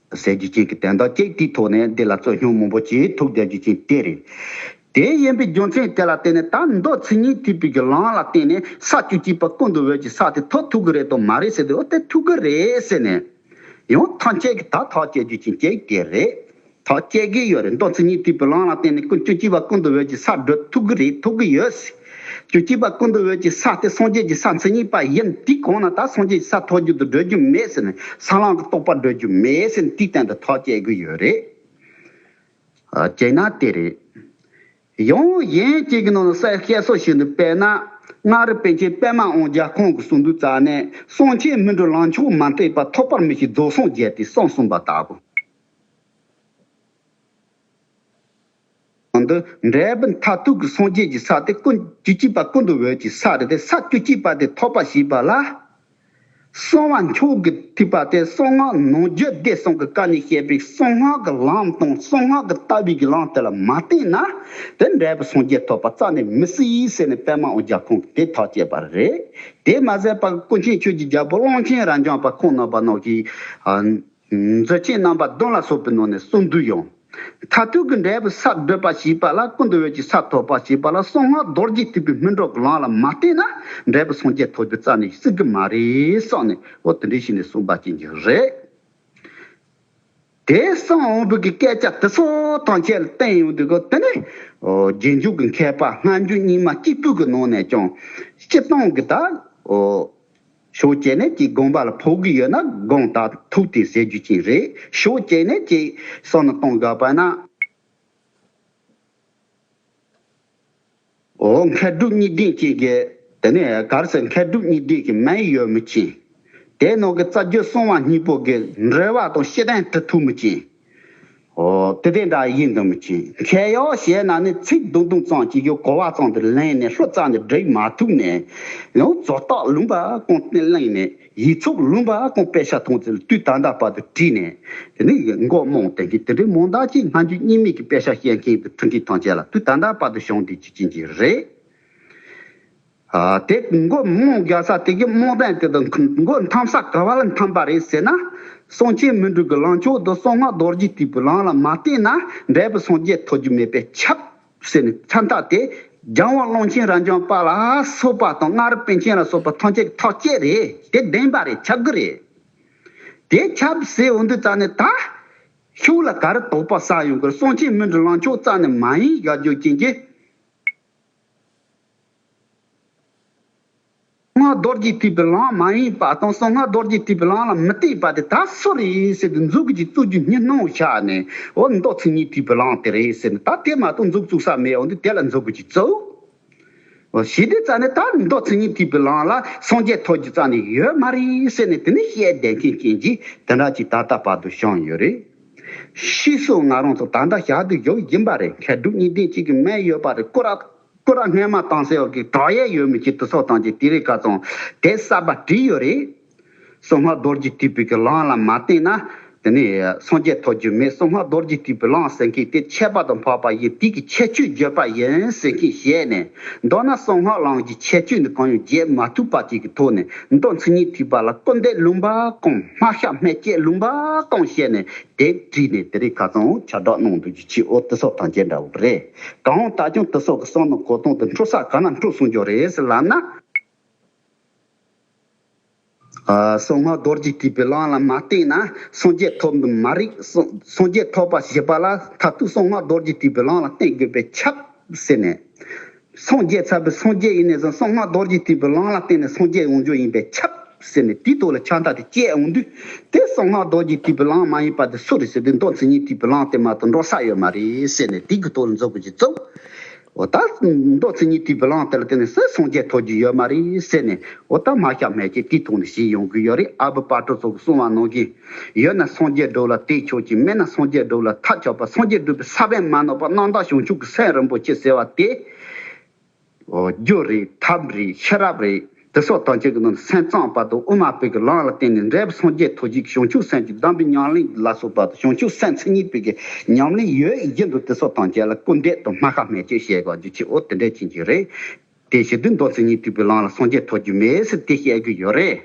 ཟས་ཀྱི་སྐྱེས་ཀྱི་དན་དང་ཀེག་ཏིའི་ཐོག་ནས་འདི་ལ་རྩོད་སྙོམས་མང་པོ་སྐྱེས་ཐུགས་དད་རྒྱུ་ཅན་གཏེར་རེད། དེའི་དབྱེན་པའི་རྒྱུ་མཚན་དེ་ལ་བརྟེན་ནས་ད་མདོ་ཚིག་རྙིང་ཐིག་པིག་གི་ལམ་ལ་བརྟེན་ནས་ས་བཅུ་གཅིག་པ་ཀུན་ཏུ་འོད་ཀྱི་ས་དེ་ཐོག་ཐུག་གི་རེད་དམ་མ་རེད་ཟེར་དུས་འོ་དེ་ཐུག་གི་རེད་ཟེར་ནས། ཡང་ཐང་སྐྱེས་ཀྱི་ད་ཐག་སྐྱེས་རྒྱུ་ཅན་གེག་ཏི་རེད། ཐག་སྐྱེས་གི་ཡོད་རེད་མདོ་ཚིག་རྙིང་ཐིག་པིག་ལམ་ལ་བརྟེན་ནས་ཀུན་བཅུ་གཅིག་པ་ཀུན་ཏུ་འོད་ཀྱི་ས་བགྲོད་ཐུག་གི་རེད་ཐུག་གི་ཡོད། རྒྱུ་སྐྱེས་པ་ཀུན་ཏུ་འོད་ཀྱི་ས་སྟེ་སངས་རྒྱས་ཀྱི་ས་མཚན་ཉིད་པ་ཡིན་དེའི་གོང་ན་ད་སངས་རྒྱས་ཀྱི་ས་ཐོགས་རྒྱུ་དུ་སྒྲོལ་རྒྱུ་མེད་ཟེར་ནས་ས་བླངས་ཀྱི་རྟོགས་པ་སྒྲོལ་རྒྱུ་མེད་ཟེར་ནས་དེའི་སྟེང་དུ་ཐག་བཅད་དགོས་ཡོད་རེད། བྱས་ན་དེ་རེད། ཡང་གཞན་གཅིག་གི་ནང་ན་གསལ་བཤད་སོགས་བྱེད་འདུག་པས་ན། མངའ་རིས་པཎ་ཆེན་པདྨ་དབང་རྒྱལ་ཁོང་གི་གསུང་དུ་རྩ་ནས་གསང་ཆེན་སྨིན་གྲོལ་ལངས་ཕྱོགས་མ་འཐད་པར་ཐོགས་པར་མི་བྱེད་རྫོགས་སངས་རྒྱས་ཏེ་གསང་གསུངས་པ་ལྟ་བུ། གང་འདི་འབྲས་བུ་མཐའ་ཐུག་གི་སངས་རྒྱས་ཀྱི་ས་དེ་ཀུན་བཅུ་གཅིག་པ་ཀུན་ཏུ་འོད་ཀྱི་ས་རེད་པས་ས་བཅུ་གཅིག་པ་དེ་ཐོབ་པ་བྱས་པ་ལ། གསང་བ་མཆོག་གི་ཐིགས་པ་སྟེ་གསང་སྔགས་ནང་རྒྱུད་སྡེ་གསུམ་གྱི་བཀའ་ནས་བཤད་པའི་གསང་སྔགས་ཀྱི་ལམ་དང་གསང་སྔགས་ཀྱི་ལྟ་བའི་གི་ལམ་དེ་ལ་མ་བརྟེན་ན་དེ་འབྲས་བུ་སངས་རྒྱས་ཐོབ་པ་རྩ་ནས་མི་སྲིད་ཟེར་ནས་པདྨ་ཨོ་རྒྱ་ཁོང་གིས་དེ་ཐག་བཅད་པ་རེད། དེ་མ་ཟད་པར་སྐུ་མཁྱེན་ཆོས་ཀྱི་རྒྱལ་པོ་གླང་ཆེན་རྭ་འཇམ་པ་ཁོང་ནོར་བ་ནོར་གྱིས། མཛོད་ཆེན་རྣམ་པ་གདོན་ལ་སོགས་པའི་ནང་ནས་གསུམ་འདུས་ཡོང། མཐར་ཐུག་གི་འབྲས་བུ་ས་བགྲོད་པ་ཞེས་པ་ལ་ཀུན་ཏུ་འོད་ཀྱི་ས་ཐོབ་པ་ཞེས་པ་ལ་གསང་སྔགས་རྡོ་རྗེ་ཐེག་པའི་སྨིན་གྲོགས་ཀྱི་ལམ་ལ་མ་བརྟེན་ན་འབྲས་བུ་སངས་རྒྱས་ཐོབ་རྒྱུ་རྩ་ནས་སྲིད་ཀྱི་མ་རེད་བསམ་ནས་ཨོ་དེ་འདྲའི་ཞིག་ནས་གསུངས་པ་བྱིན་གྱིས་རེད། དེ་གསང་དབང་པོ་གི་སྐད་ཆ་དེ་ཚོ་ཐང་ཆད་ལ་བསྟན་ཡོང་དུས་ཀྱི་དེ་ནས་རྗེས་འཇུག་གི་མཁས་པ་སྔ་འགྱུར་རྙིང་མ་གཅིག་པུས་ཀྱི་ནང་ནས་ཀྱང་སྤྱི་བཏང་གི་དང། ཞོ་སྐྱེ་ནད་ཀྱི་དགོངས་པ་ལ་ཕོག་གི་ཡོད་ན་དགོངས་དག་དང་ཐུག་སྟེ་ཟེར་རྒྱུ་ཅན་རེད་ཞོ་སྐྱེ་ནད་ཅེས་སོགས་ནི་གཏོང་དགོས་པ་ན། འོ་མཁས་གྲུབ་གཉིས་ལྡན་ཅེས་བརྒལ། དེ་ནས་གར་སའི་མཁས་གྲུབ་གཉིས་ལྡན་གྱི་མན་ཡོད་མི་ཅན། དེའི་ནང་གི་རྩ་རྒྱུད་སྲོང་བ་སྙིང་པོ་དགེ་འགྲེལ་བ་དང་ཤེས་ལྡན་གྲི་ཐུག་མི་ཅན། དེ་དེ་འདྲ་ཡིན་དུ་མི་བྱེད། མཁས་ཡོ་བྱས་ན་ནི་ཚིག་བརྡུང་བརྡུང་ཙམ་གྱིས་ཀྱང་གོ་བ་ཙམ་དུ་ལེན་ནས་ལྷུ་ཙམ་དུ་བསྒྲིགས་མ་ཐུབ་ནས། ཡང་བཟོ་རྟགས་ལུང་པ་ཀུན་བསྟན་གླེང་ནས་ཡིག་ཚོགས་ལུང་པ་ཀུན་དཔེ་ཆ་མཐོང་ཚུལ་དུས་ད་ལྟ་བར་དུ་བྲིས་ནས། དེ་ནི་མགོ་རྨོངས་དེ་མཁན་དེ་འདྲའི་མོང་བདག་ཅིག་སྔ་འགྱུར་གཉིས་མེད་ཀྱི་དཔེ་ཆ་བཤད་མཁན་དུ་འཁྲུངས་མཁན་ཐམས་ཅད་ལ་དུས་ད་ལྟ་བར་དུ་ཞོགས་འདེགས་ཅིག་བྱིན་གྱི་རེད། དེ་མགོ་རྨོངས་རྒྱག་ས་དེ་གི་རྨོངས་དད་དེ་དང་མགོ་འཐམ་ས་ག་བ་ལ་འཐམ་པ་རེད་ཟེར་ན། སངས་རྒྱས་སྨིན་དྲུག་གི་ལངས་ཕྱོགས་དང་གསང་སྔགས་རྡོ་རྗེ་གཅིག་པུའི་ལངས་ལ་མ་བརྟེན་ན་འབྲས་བུ་སངས་རྒྱས་ཐོབ་རྒྱུ་མེད་པས་ཁྱབ། ཟེར་ནས་མཚན་རྟགས་དེ་རྒྱང་བ་ཀློང་ཆེན་རབ་འབྱམས་དཔའ་ལ་སོགས་པ་དང་སྔགས་རབ་པཎ་ཆེན་ལ་སོགས་པ་ཐམས་ཅད་ཀྱི་ཐག་བཅད་རེད་དེ་བདེན་པ་རེད་ཁྱབ་གི་རེད་དེ། ཁྱབ་ཟེར་འོ་འདུག་རྩ་ནས་ད། ཤུགས་ལ་ག་རེ་དོགས་པ་བསགས་ཡོང་གི་རེད་སངས་རྒྱས་སྨིན་དྲུག་ལངས་ཕྱོགས་རྩ་ནས་མ་ཡིན་ག་རྒྱུ་རྐྱེན་གྱི། སྔགས་རྡོར་གྱིས་བྲིས་པའི་གླང་མ་ཡིན་པ་དང་གསང་སྔགས་རྡོར་གྱིས་བྲིས་པའི་གླང་ལ་མི་གཏད་པ་དེ་ད་སུ་རེད་ཟེར་ཏེ་འཛུགས་ཀྱིས་བཙུགས་རྒྱུ་གཉིས་སྣང་བར་ཆགས་ནས་འོ་མདོ་ཚིག་གཉིས་བྲིས་པའི་གླང་དེ་རེད་ཟེར་ནས་ད་དེ་མ་གཏོགས་འཛུགས་བཙུགས་ས་མེད་འོ་འདི་དེ་ལ་འཛུགས་ཀྱིས་བཙུགས། ཞེས་དེ་རྩ་ནས་ད་མདོ་ཚིག་གཉིས་བྲིས་པའི་གླང་ལ་སངས་རྒྱས་ཐོག་རྒྱུ་རྩ་ནས་ཡོད་མ་རེད་ཟེར་ནས་དེ་ནི་ཤེས་ལྡན་མཁན་རྐྱེན་གྱིས་དེ་འདྲ་ཅིག་ད་ལྟ་བར་དུ་བྱུང་ཡོད་རེད། ཤི་སོགས་ང་རང་ཚོ་ད་ལྟ་ཞག་སྡོད་ཞོར་ཡིན་པ་རེད་མཁས་གྲུབ་གཉིས་ལྡན་གཅིག་གིས་སྨྲས་ཡོད་པ་རེད་ཀུ་རགས། སྐུ་ར་སྔས་མ་བཏང་སའི་འོག་གི་བྲག་གཡས་ཡོད་མི་གཅིག་ཏུ་སོགས་དང་གཅིག་དེ་རིགས་ཀ་ཙོང་དེ་གསར་པ་བྲིས་ཡོད་རེད། སོ་ལྔ་རྡོར་གྱིས་བྲིས་པའི་གི་ལང་ལ་མ་བརྟེན་ན་དེ་ནི་སངས་རྒྱས་ཐོབ་རྒྱུ་མེད་སོ་ལྔ་རྡོར་གྱིས་བྲིས་པའི་ལང་ཟེར་མཁན་དེ་ཆད་པ་དང་འཕགས་པ་ཡི་དུས་ཀྱི་ཁྱད་ཆོས་བརྗོད་པ་ཡིན་ཟེར་མཁན་བཤད་ནས་མདོར་ན་སོ་ལྔ་ལང་གི་ཁྱད་ཆོས་འདི་གང་ཡང་བརྗེད་མ་ཐུབ་པ་ཅིག་གི་ཐོག་ནས་མདོ་མཚན་ཉིད་ཐིག་པ་ལ་སྐུ་འདས་ལུང་པ་གང་སྨྲ་ཤ་སྨྲས་བཅད་ལུང་པ་གང་བཤད་ནས་དེབ་བྲིས་ནས་དེ་རིགས་ཁ་ཙོང་ཆ་བསྒྲགས་གནང་འདུག་རྒྱུ་ཆེའི་འོག་ཏུ་སོགས་དང་བཅས་འདྲ་བོ་རེད། གང་འོང་ལྟ་སྐྱོང་དུ་སོགས་ཀྱི་གསང་དང་གོ་སྟོང་དུ་འཕྲོ་བསགས་གང་ལ་འཕྲོ་གསུངས་ཀྱང་རེད་ཟེར་ལབ་ན། གསང་སྔགས་རྡོ་རྗེ་ཐེག་པའི་གླང་ལ་མ་བསྟེན་ན་སངས་རྒྱས་ཐོབ་འདུག་མ་རིག་སངས་རྒྱས་ཐོབ་པ་ཞེས་པ་ལ་ད་དུས་གསང་སྔགས་རྡོ་རྗེ་ཐེག་པའི་གླང་ལ་བསྟེན་དགོས་པས་ཁྱབ། ཟེར་ནས། སངས་རྒྱས་ཚར་བས་སངས་རྒྱས་ཡིན་ནས་བཟུང་གསང་སྔགས་རྡོ་རྗེ་ཐེག་པའི་གླང་ལ་བསྟེན་ནས་སངས་རྒྱས་ཡོང་རྒྱུ་ཡིན་པས་ཁྱབ། ཟེར་ནས་དེའི་ཐོག་ལ་ཆང་རྟ་དེ་བསྐྱལ་འོང་དུས། དེ་སོང་ན་རྡོ་རྗེ་ཐིག་བུ་ལངས་མ་ཡིན་པ་དེ་སུ་རེད་ཟེར་དུས་མདོ་མཚན་ཉིད་ཐིག་བུ་ལངས་ཏེ་མ་ཏོ་འགྲོ་ས་ཡོད་མ་རེད་ཟེར་ནས་དེ་གི་ཐོག་ལ་འཛུགས་དགོས་ཀྱི་བཙུགས། འོ་ད། མདོ་མཚན་ཉིད་ཐིག་བུ་ལངས་དེ་ལ་བརྟེན་ནས་སུ་སོང་རྒྱལ་ཐོག་རྒྱུ་ཡོད་མ་རེད་ཟེར་ནས་འོ་ད་མ་ཤ་མེད་ཀྱི་དེའི་ཐོག་ནས་བྱེད་ཡོང་གི་ཡོད་རེད་ཨ་བུ་པར་གྲོ་སོགས་ཀྱི་གསུང་བ་གནང་གི་ཡོད་ན་སངས་རྒྱས་སྒྲུབ་ལ་དེ་ཆོག་ཅིག་མེད་ན་སངས་རྒྱས་སྒྲུབ་ལ་ཐག་ཆོད་པ་སངས་རྒྱས་སྒྲུབ་པའི་ས་བོན་མ་ནོར་བ་སྣང་བདག་བྱང་ཆུབ་ཀྱི་སེམས་རིན་པོ་ཆེ་ཟེར་བ་དེ། རྒྱུ་རེད་ཐབས་རེད་ཤེས་རབ་རེད་དེ་སོགས་དོན་ཆེན་གྱི་ནང་དུ་སེམས་གཙང་བར་དུ་དབུ་མ་བོད་ཀྱི་ལམ་ལ་བརྟེན་ནས་འབྲས་བུ་སངས་རྒྱས་ཐོབ་བྱེད་ཀྱི་བྱང་ཆུབ་སེམས་ཀྱི་གདམས་པའི་ཉམས་ལེན་གྱི་བླ་སྲོག་བར་དུ་བྱང་ཆུབ་སེམས་མཚན་ཉིད་བོད་ཀྱི་ཉམས་ལེན་ཡོད་བཞིན་དུ་དེ་སོགས་དོན་ཆེན་ལ་སྐུར་འདེབས་དང་སྨྲ་ཤ་སྨྲས་བཅོས་བྱེད་དགོས་རྒྱུ་ཆེའོ་དེ་འདྲས་ཕྱིན་གྱི་རེད་དེ། ཞི་དུལ་མདོ་མཚན་ཉིད་དུལ་བའི་ལམ་ལ་སངས་རྒྱས་ཐོབ་རྒྱུ་མེད་ཟེར་དེ་བཤད་རྒྱུ་ཡོད་རེད།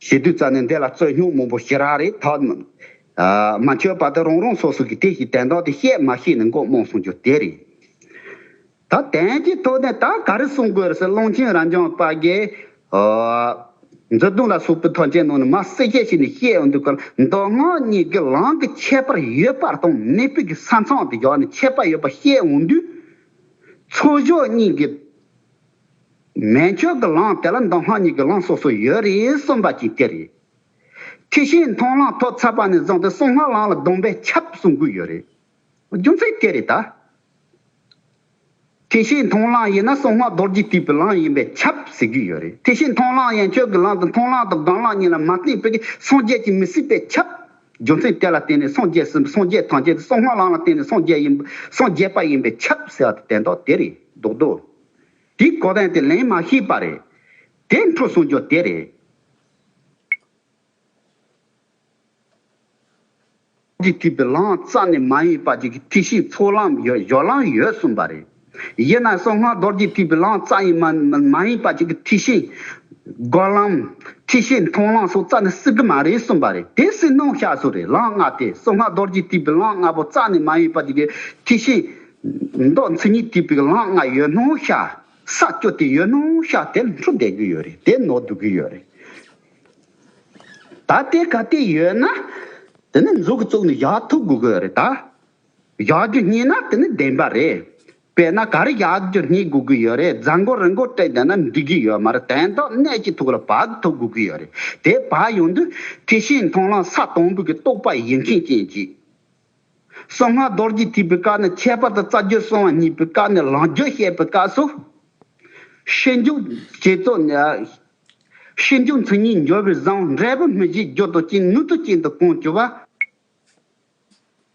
ཞེ་བདུད་རྩ་ནི་འདི་ལ་རྩོད་སྙོགས་མང་པོ་ཞེ་རགས་རེ་ཐོག་མ་བཅོས་པ་དེ་རང་རང་སོ་སོ་གི་དེ་བཞིན་དན་ཐོག་དེ་བཤད་མ་ཤེས་ནས་མགོ་རྨོངས་སོང་རྒྱུ་དེ་རེད། ད་དན་གྱི་ཐོག་ནས་ད་ག་རེ་གསུང་དགོས་རེད་ཟེར་གླང་ཆེན་རང་བྱང་པ་རྒྱའི། མཛོད་དུང་ལ་སོགས་པའི་ཐོག་མཆན་ནང་ནས་མ་གསལ་ཁྱད་ཞིག་ནས་བཤད་འོང་དུས་ཀར་མདོ་སྔགས་གཉིས་ཀྱི་ལམ་གྱི་ཁྱད་པར་ཡོད་པ་དང་མེད་པའི་གི་ས་མཚམས་དེ་བཞག་ནས་ཁྱད་པར་ཡོད་པ་བཤད་འོང་དུས། ཚོགས་གཞོགས་གཉིས་ཀྱི། མེན་ཁྱོད་ཀྱི་ལང་དེ་ལ་མདོ་སྔགས་གཉིས་ཀྱི་ལང་སོ་སོ་ཡོད་རེད་གསུངས་པ་གཅིག་དེ་རེད། ཁྱི་ཤིང་མཐོང་ལང་ཐོག་ཚ་པ་ནས་བཟུང་སྟེ་གསུང་སྔགས་ལང་ལ་སྡོམ་པས་ཁྱབ་གསུང་དགོས་ཡོད་རེད། རྒྱུ་མཚན་དེ་རེད་ད། ཁྱི་ཤིང་མཐོང་ལང་ཡིན་ན་གསུང་སྔགས་རྡོ་རྗེ་དུས་པའི་ལང་ཡིན་པས་ཁྱབ་ཟེར་གྱི་ཡོད་རེད་ཁྱི་ཤིང་མཐོང་ལང་ཡན་ཆོད་ཀྱི་ལང་དང་མཐོང་ལང་དང་སྒང་ལང་གཉིས་ལ་མ་བརྟེན་པའི་སངས་རྒྱས་ཀྱི་མི་སྲིད་པས་ཁྱབ། རྒྱུ་མཚན་དེ་ལ་བརྟེན་ནས་སངས་རྒྱས་ཟིན་པ་སངས་རྒྱས་ཐང་ཆད་དེ་གསུང་སྔགས་ལང་ལ་བརྟེན་ནས་སངས་རྒྱས་ཡིན་སངས་རྒྱས་པ་ཡིན་པས་ཁྱབ་ཟེར་བ་དེ་དན་ཏོག་དེ་རེད་འདུག་དོ། དེ་གོ་བས་དེ་ལན་མ་ཤེས་པ་རེད། དེ་འཕྲོ་སོང་རྒྱུ་དེ་རེད། ཀྱི་ཐིག་པའི་ལང་རྩ་ནི་མ་ཡིན་པ་ཅིག་གི་ཐིག་ཤིང་ཚོགས་ལམ་ཡོད་གཞོགས་ལམ་ཡོད་གསུངས་པ་རེད། དབྱེ་ན་གསང་སྔགས་རྡོར་གྱི་ཐིག་པའི་ལང་རྩ་ཡིན་མ་མ་ཡིན་པ་ཅིག་གི་ཐིག་ཤིང། སྒོག་ལམ། ཐིག་ཤིང་མཐོང་ལམ་སོགས་རྩ་ནི་སྲིད་གི་མ་རེད་གསུངས་པ་རེད་དེ་སྲིད་སྣང་ཤ་སོགས་རེད་ལང་ལྔ་སྟེ་གསང་སྔགས་རྡོར་གྱི་ཐིག་པའི་ལང་ལྔ་པོ་རྩ་ནི་མ་ཡིན་པ་ཅིག་གི་ཐིག་ཤིང། མདོག་མཚན་ཉིད་དེ་པིག་ལང་ལྔ་ཡོད་ནོ་ཤ་ས་སྐྱོ་དེ་ཡོད་ནོ་ཤ་དེ་ལྷུ་བསྡད་གི་ཡོད་རེད་དེ་ནོར་འདུག་གི་ཡོད་རེད་ད་དེ་ག་དེ་ཡོད་ན་དེ་ནི་མཛོ་གི་བཙོག་ནི་བཞག་ཐུབ་དགོས་གི་ཡོད་རེད་ད་བཞག་རྒྱུ་རྙེད་ན་དེ་ནི་བདེན་པ་རེད་དཔེར་ན་ག་རེ་བཞག་རྒྱུ་རྙེད་དགོས་གི་ཡོད་རེད་རྫ་མགོ་རི་མགོ་སྤྲད་བསྡད་ན་འགྲིག་གི་ཡོད་མ་རེད་དེ་མདོག་གནས་ཀྱི་ཐུགས་ལ་བག་ཐུབ་དགོས་གི་ཡོད་རེད་དེ་བག་ཡོང་དུས་དེ་བཞིན་མཐོང་ལམ་ས་དང་པོ་གི་རྟོག་པ་ཡིན་མཁན་རྐྱེན་གྱིས། གསང་སྔགས་རྡོ་རྗེ་ཐེག་པའི་སྐབས་ནས་ཁྱད་པར་དུ་རྩ་རྒྱུད་གསང་བ་གཉིས་པའི་སྐབས་ནས་རང་རྒྱུད་བཤད་པའི་སྐབས་སུ། ཤེས་འཇུག་རྗེས་རྫོགས་ནས། ཤེས་འཇུག་མཚན་ཉིད་འབྱོར་བའི་བཟང་འབྲས་བུ་མི་བཞིའི་རྒྱུ་དང་རྐྱེན་ནུས་མཐུ་ཅན་དུ་གང་བྱོ་བ།